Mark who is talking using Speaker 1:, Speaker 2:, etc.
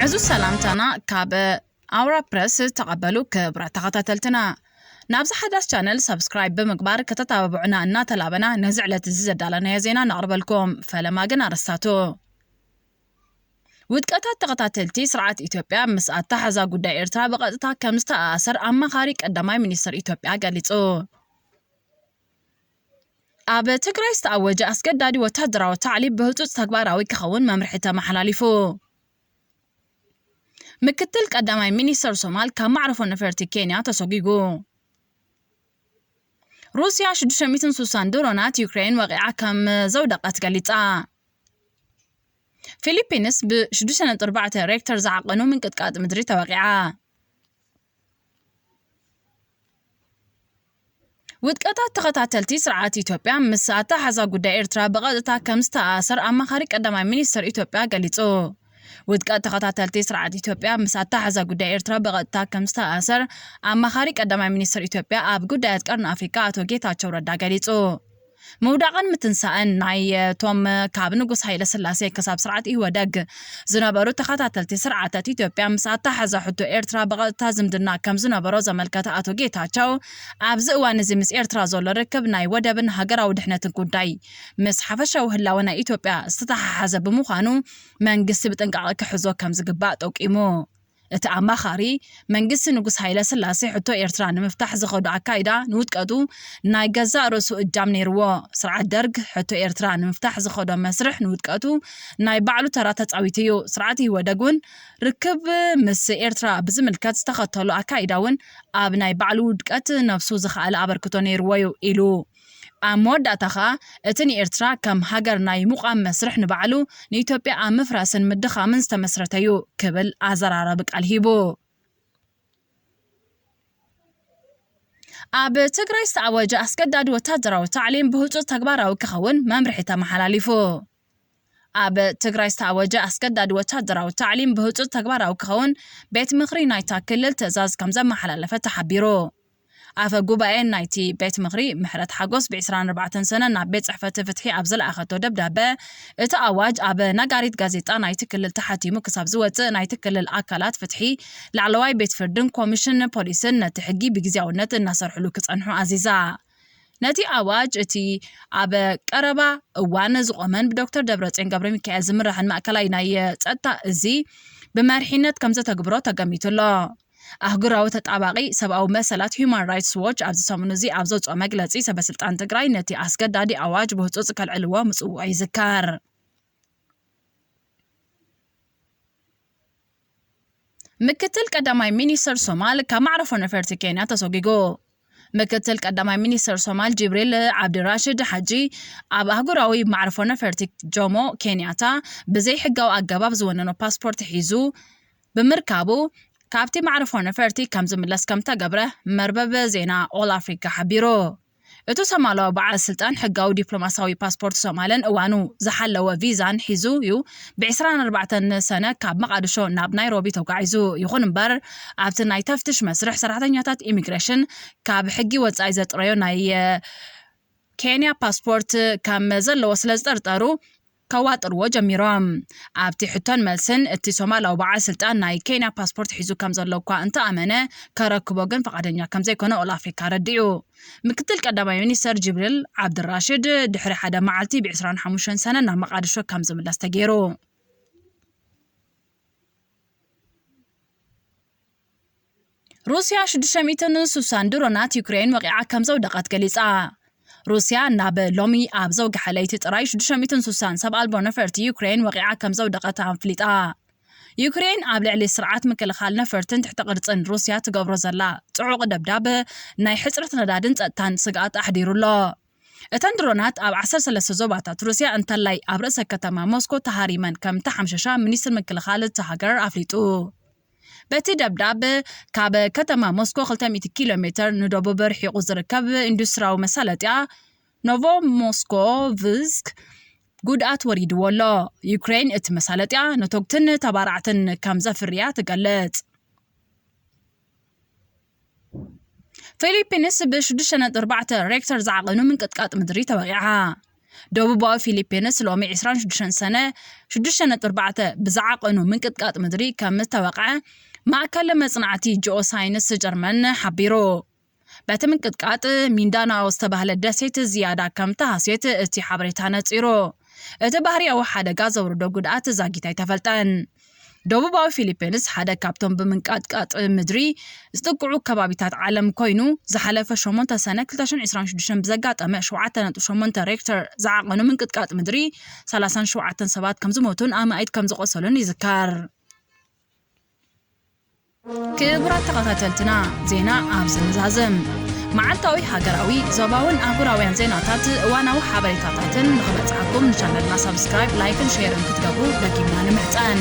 Speaker 1: ዕዙዝ ሰላምታና ካብ ኣውራ ፕረስ ተቐበሉ ክብራት ተኸታተልትና ናብዚ ሓዳስ ቻነል ሰብስክራይብ ብምግባር ከተተባብዑና እናተላበና ነዚ ዕለት እዚ ዘዳለናዮ ዜና ነቕርበልኩም። ፈለማ ግን ኣርስታቱ ውድቀታት ተኸታተልቲ ስርዓት ኢትዮጵያ ምስ ኣተሓዛ ጉዳይ ኤርትራ ብቐጥታ ከም ዝተኣኣሰር ኣማኻሪ ቀዳማይ ሚኒስትር ኢትዮጵያ ገሊጹ። ኣብ ትግራይ ዝተኣወጀ ኣስገዳዲ ወታደራዊ ታዕሊም ብህፁፅ ተግባራዊ ክኸውን መምርሒ ተመሓላሊፉ። ምክትል ቀዳማይ ሚኒስተር ሶማል ካብ ማዕረፎ ነፈርቲ ኬንያ ተሰጒጉ። ሩስያ 660 ድሮናት ዩክሬን ወቒዓ ከም ዘውደቐት ገሊጻ። ፊሊፒንስ ብ6.4 ሬክተር ዝዓቐኑ ምንቅጥቃጥ ምድሪ ተወቒዓ። ውድቀታት ተኸታተልቲ ስርዓት ኢትዮጵያ ምስ ኣተሓሕዛ ጉዳይ ኤርትራ ብቐጥታ ከም ዝተኣሳሰር ኣማኻሪ ቀዳማይ ሚኒስተር ኢትዮጵያ ገሊጹ። ውድቀት ተኸታተልቲ ስርዓት ኢትዮጵያ ምስ ኣተሓሕዛ ጉዳይ ኤርትራ ብቐጥታ ከም ዝተኣሳሰር ኣማኻሪ ቀዳማይ ሚኒስተር ኢትዮጵያ ኣብ ጉዳያት ቀርኒ ኣፍሪቃ ኣቶ ጌታቸው ረዳ ገሊጹ። ምውዳቕን ምትንሳእን ናይ እቶም ካብ ንጉስ ሃይለስላሴ ክሳብ ስርዓት ኢህወደግ ዝነበሩ ተኸታተልቲ ስርዓታት ኢትዮጵያ ምስ ኣተሓሕዛ ሕቶ ኤርትራ ብቐጥታ ዝምድና ከም ዝነበሮ ዘመልከተ ኣቶ ጌታቸው ኣብዚ እዋን እዚ ምስ ኤርትራ ዘሎ ርክብ ናይ ወደብን ሃገራዊ ድሕነትን ጉዳይ ምስ ሓፈሻዊ ህላወ ናይ ኢትዮጵያ ዝተተሓሓዘ ብምዃኑ መንግስቲ ብጥንቃቐ ክሕዞ ከም ዝግባእ ጠቂሙ። እቲ ኣማኻሪ መንግስቲ ንጉስ ሃይለስላሴ ሕቶ ኤርትራ ንምፍታሕ ዝኸዶ ኣካይዳ ንውድቀቱ ናይ ገዛእ ርእሱ እጃም ነይርዎ። ስርዓት ደርግ ሕቶ ኤርትራ ንምፍታሕ ዝኸዶ መስርሕ ንውድቀቱ ናይ ባዕሉ ተራ ተጻዊቱ እዩ። ስርዓት ኢህወደግ እውን ርክብ ምስ ኤርትራ ብዝምልከት ዝተኸተሎ ኣካይዳ እውን ኣብ ናይ ባዕሉ ውድቀት ነብሱ ዝኸኣለ ኣበርክቶ ነይርዎ እዩ ኢሉ። ኣብ መወዳእታ ከኣ እቲ ንኤርትራ ከም ሃገር ናይ ምቋም መስርሕ ንባዕሉ ንኢትዮጵያ ኣብ ምፍራስን ምድኻምን ዝተመስረተ'ዩ ክብል ኣዘራራቢ ቃል ሂቡ። ኣብ ትግራይ ዝተኣወጀ ኣስገዳዲ ወታደራዊ ታዕሊም ብህጹጽ ተግባራዊ ክኸውን መምርሒ ተመሓላሊፉ። ኣብ ትግራይ ዝተኣወጀ ኣስገዳዲ ወታደራዊ ታዕሊም ብህፁፅ ተግባራዊ ክኸውን ቤት ምኽሪ ናይታ ክልል ትእዛዝ ከምዘመሓላለፈ ተሓቢሩ። ኣፈ ጉባኤ ናይቲ ቤት ምኽሪ ምሕረት ሓጎስ ብ ዕስራን ኣርባዕተን ሰነ ናብ ቤት ፅሕፈቲ ፍትሒ ኣብ ዝለኣኸቶ ደብዳበ እቲ ኣዋጅ ኣብ ነጋሪት ጋዜጣ ናይቲ ክልል ተሓቲሙ ክሳብ ዝወፅእ ናይቲ ክልል ኣካላት ፍትሒ ላዕለዋይ ቤት ፍርድን ኮሚሽን ፖሊስን ነቲ ሕጊ ብግዚያውነት እናሰርሕሉ ክፀንሑ ኣዚዛ። ነቲ ኣዋጅ እቲ ኣብ ቀረባ እዋን ዝቖመን ብዶክተር ደብረጽዮን ገብረ ሚካኤል ዝምራሕን ማእከላይ ናይ ጸጥታ እዚ ብመርሒነት ከም ዘተግብሮ ተገሚቱ ኣሎ። ኣህጉራዊ ተጣባቂ ሰብኣዊ መሰላት ሂዩማን ራይትስ ዎች ኣብዚ ሰሙን እዚ ኣብ ዘውጽኦ መግለጺ ሰበስልጣን ትግራይ ነቲ ኣስገዳዲ ኣዋጅ ብህጹጽ ከልዕልዎ ምጽውዑ ይዝከር። ምክትል ቀዳማይ ሚኒስትር ሶማል ካብ ማዕረፎ ነፈርቲ ኬንያ ተሰጒጎ ምክትል ቀዳማይ ሚኒስትር ሶማል ጅብሪል ዓብድራሽድ ሓጂ ኣብ ኣህጉራዊ ማዕረፎ ነፈርቲ ጆሞ ኬንያታ ብዘይ ሕጋዊ ኣገባብ ዝወነኖ ፓስፖርት ሒዙ ብምርካቡ ካብቲ ማዕረፎ ነፈርቲ ከም ዝምለስ ከም ተገብረ መርበብ ዜና ኦል ኣፍሪካ ሓቢሩ እቱ ሶማላዊ በዓል ስልጣን ሕጋዊ ዲፕሎማሲያዊ ፓስፖርት ሶማለን እዋኑ ዝሓለወ ቪዛን ሒዙ ዩ ብ ዕስራን ኣርባዕተን ሰነ ካብ መቓድሾ ናብ ናይሮቢ ተጓዒዙ። ይኹን እምበር ኣብቲ ናይ ተፍትሽ መስርሕ ሰራሕተኛታት ኢሚግሬሽን ካብ ሕጊ ወፃኢ ዘጥረዮ ናይ ኬንያ ፓስፖርት ከም ዘለዎ ስለዝጠርጠሩ ከዋጥርዎ ጀሚሮም። ኣብቲ ሕቶን መልስን፣ እቲ ሶማላዊ በዓል ስልጣን ናይ ኬንያ ፓስፖርት ሒዙ ከምዘሎ እኳ እንተኣመነ፣ ከረክቦ ግን ፍቓደኛ ከምዘይኮነ ኦል ኣፍሪካ ኣረዲኡ። ምክትል ቀዳማይ ሚኒስተር ጅብሪል ዓብዲራሽድ ድሕሪ ሓደ መዓልቲ ብ ዕስራን ሓሙሽተን ሰነ ናብ መቓድሾ ከምዝምለስ ተገይሩ። ሩስያ ሽዱሽተ ሚእትን ሱሳን ድሮናት ዩክሬን ወቒዓ ከም ዘውደቐት ገሊጻ። ሩስያ ናብ ሎሚ ኣብ ዘውግሐ ለይቲ ጥራይ ሽዱሽተ ሚእትን ሱሳን ሰብ ኣልቦ ነፈርቲ ዩክሬን ወቒዓ ከም ዘውደቐት ኣፍሊጣ። ዩክሬን ኣብ ልዕሊ ስርዓት ምክልኻል ነፈርትን ትሕቲ ቅርጽን ሩስያ ትገብሮ ዘላ ጽዑቕ ደብዳብ ናይ ሕጽረት ነዳድን ጸጥታን ስግኣት ኣሕዲሩ ኣሎ። እተን ድሮናት ኣብ 13 ዞባታት ሩስያ እንተላይ ኣብ ርእሰ ከተማ ሞስኮ ተሃሪመን ከም እተሓምሸሻ ሚኒስትሪ ምክልኻል እታ ሃገር ኣፍሊጡ። በቲ ደብዳብ፣ ካብ ከተማ ሞስኮ ክልተ ሚእቲ ኪሎ ሜተር ንደቡብ ርሒቑ ዝርከብ ኢንዱስትርያዊ መሳለጥያ ኖቮሞስኮቭስክ ጉድኣት ወሪድዎ ኣሎ። ዩክረይን እቲ መሳለጥያ ነቶግትን ተባራዕትን ከም ዘፍርያ ትገልጽ። ፊሊፒንስ ብሽዱሽተ ነጥቢ ኣርባዕተ ሬክተር ዝዓቐኑ ምንቅጥቃጥ ምድሪ ተወቒዓ። ደቡባዊ ፊሊፒንስ ሎሚ 26 ሰነ ሽዱሽተ ነጥቢ ኣርባዕተ ብዝዓቐኑ ምንቅጥቃጥ ምድሪ ከም ዝተወቕዐ ማእከል መጽናዕቲ ጂኦሳይንስ ጀርመን ሓቢሩ። በቲ ምንቅጥቃጥ ሚንዳናኦ ዝተባህለ ደሴት ዝያዳ ከም ተሃስየት እቲ ሓበሬታ ነጺሩ። እቲ ባህርያዊ ሓደጋ ዘውርዶ ጉድኣት ዛጊት ኣይተፈልጠን። ደቡባዊ ፊሊፒንስ ሓደ ካብቶም ብምንቃጥቃጥ ምድሪ ዝጥቅዑ ከባቢታት ዓለም ኮይኑ፣ ዝሓለፈ ሸሞንተ ሰነ ክልተ ሽሕን ዕስራን ሽዱሽተን ብዘጋጠመ ሸውዓተ ነጥቢ ሸሞንተ ሬክተር ዝዓቐኑ ምንቅጥቃጥ ምድሪ ሰላሳን ሸውዓተን ሰባት ከምዝሞቱን ኣማኢት ከምዝቖሰሉን ይዝከር። ክቡራት ተኸታተልትና ዜና ኣብ ዝንዛዝም መዓልታዊ ሃገራዊ ዞባውን ኣህጉራውያን ዜናታት እዋናዊ ሓበሬታታትን ንኽበፅሓኩም ንቻነልና ሳብስክራይብ ላይክን ሼርን ክትገብሩ ደጊምና ንምሕፀን